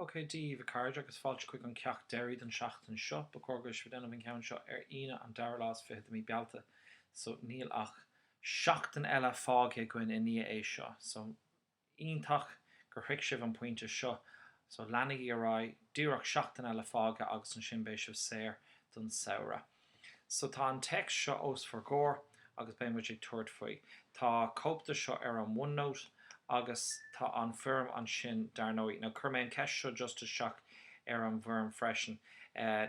OK, Dia daoibh, a chairde, agus fáilte chuig an ceacht deiridh don tseachtain seo. Ba chóir go bhfuil sibh ag déanamh an ceann seo ar Aoine, an dara lá is fiche de mí Bealtaine, so níl ach seachtain eile fágtha againn i ndiaidh é seo. So, iontach gur shroich sibh an pointe seo. So, leanaigí ar aghaidh, díreach seachtain eile fágtha agus ansin beidh sibh saor don samhradh. So tá an téacs seo os bhur gcomhair agus beidh muid ag tabhairt faoi. Tá cóip de seo ar an OneNote agus tá an foirm ansin dar ndóigh. Now chuir mé an ceist seo just isteach ar an bhfoirm freisin.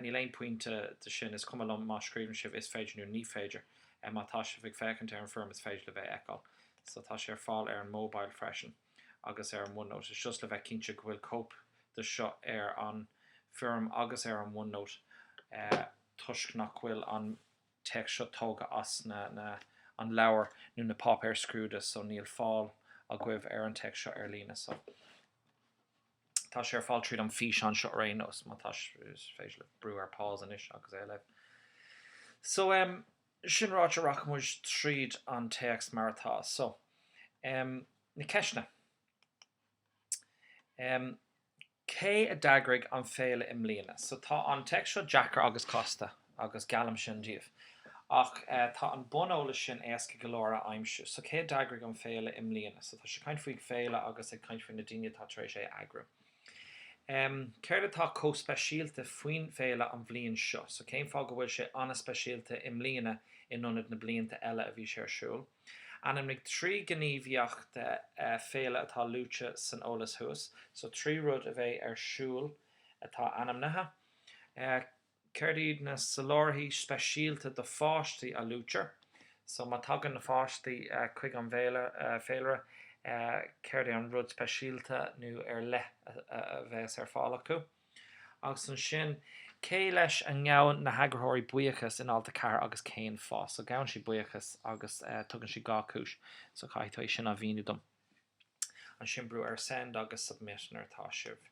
Níl aon pointe de sin, is cuma liom má scríobhann sibh is féidir nó ní féidir. Má tá sibh ag féachaint ar an bhfoirm is féidir libh é a fheiceáil. So tá sé ar fáil ar an mobile freisin. agus ar an OneNote, just le bheith cinnte go bhfuil cóip de seo ar an bhfoirm agus ar an OneNote, toisc nach bhfuil an téacs seo tógha as na an leabhar nó na páipéir scrúdaithe, so níl fáil agaibh ar an téacs seo ar líne. So, tá sé ar fáil tríd an físeán seo ar aon nós, má tá, is féidir libh brú ar pause anois agus é a léamh. So, em. Sin ráite, rachaidh muid tríd an téacs mar atá. So, na ceisteanna. Cé a d'eagraigh an féile i mbliana? So, tá an téacs seo deacair agus casta, agus geallaim sin daoibh. Ach tá an bun-eolas sin éasca go leor a aimsiú. So, cé a d'eagraigh an féile i mbliana? So, tá siad ag caint faoi féile agus ag caint faoi na daoine atá tar éis é a eagrú. Céard atá chomh speisialta faoin bhféile an bhliain seo? So cén fáth go bhfuil sé an-speisialta i mbliana in ionad na blianta eile a bhí sé ar siúl? Ainmnigh trí ghníomhaíocht féile atá luaite san eolas thuas. So trí rud a bheidh ar siúl atá ainmnithe. Céard iad na soláthairtí speisialta do pháistí a luaitear? So má tagann na páistí chuig an bhféilire, céard é an rud speisialta nó ar leith a bheas ar fáil acu? Agus ansin, cé leis a ngabhann na heagraitheoirí buíochas in alt 4 agus cén fáth? So gabhann siad buíochas agus tugann siad dhá chúis. So caithfidh tú é sin a mhíniú dom. Ansin brú ar Send agus Submit nuair atá sibh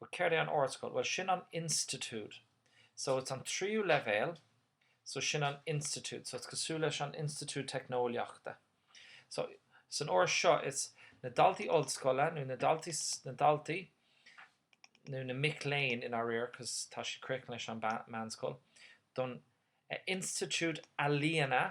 But céard é an ardscoil? Bhuel, sin an institiúid. So, it's an tríú leibhéal, so sin an institiúid. So, it's cosúil leis an institiúid teicneolaíochta. So, san alt seo, it's na daltaí ollscoile, nó na daltaí, nó na mic léinn, i ndáiríre, because tá siad críochnaithe leis an meánscoil, don institiúid ealaíona.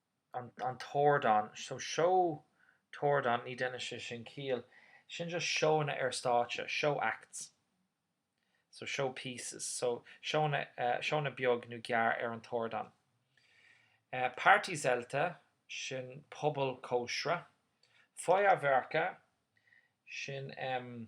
an t-ardán, so seó an t-ardán, ní dheineann sé sin ciall, sin just seóanna ar stáitse, show acts, so show pieces, so seóanna, seóanna beaga nó gearr ar an t-ardán. Partyzelte, sin puball cóisire. Feuerwerke, sin em.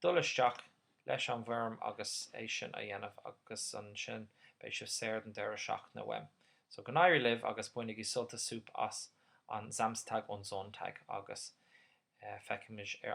Dul isteach leis an bhfoirm agus é sin a dhéanamh agus ansin beidh sibh saor don deireadh seachtaine uaim. So go n-éirí libh agus bainigí sult is súp as an Samstag und Sonntag agus feicfimid ar an.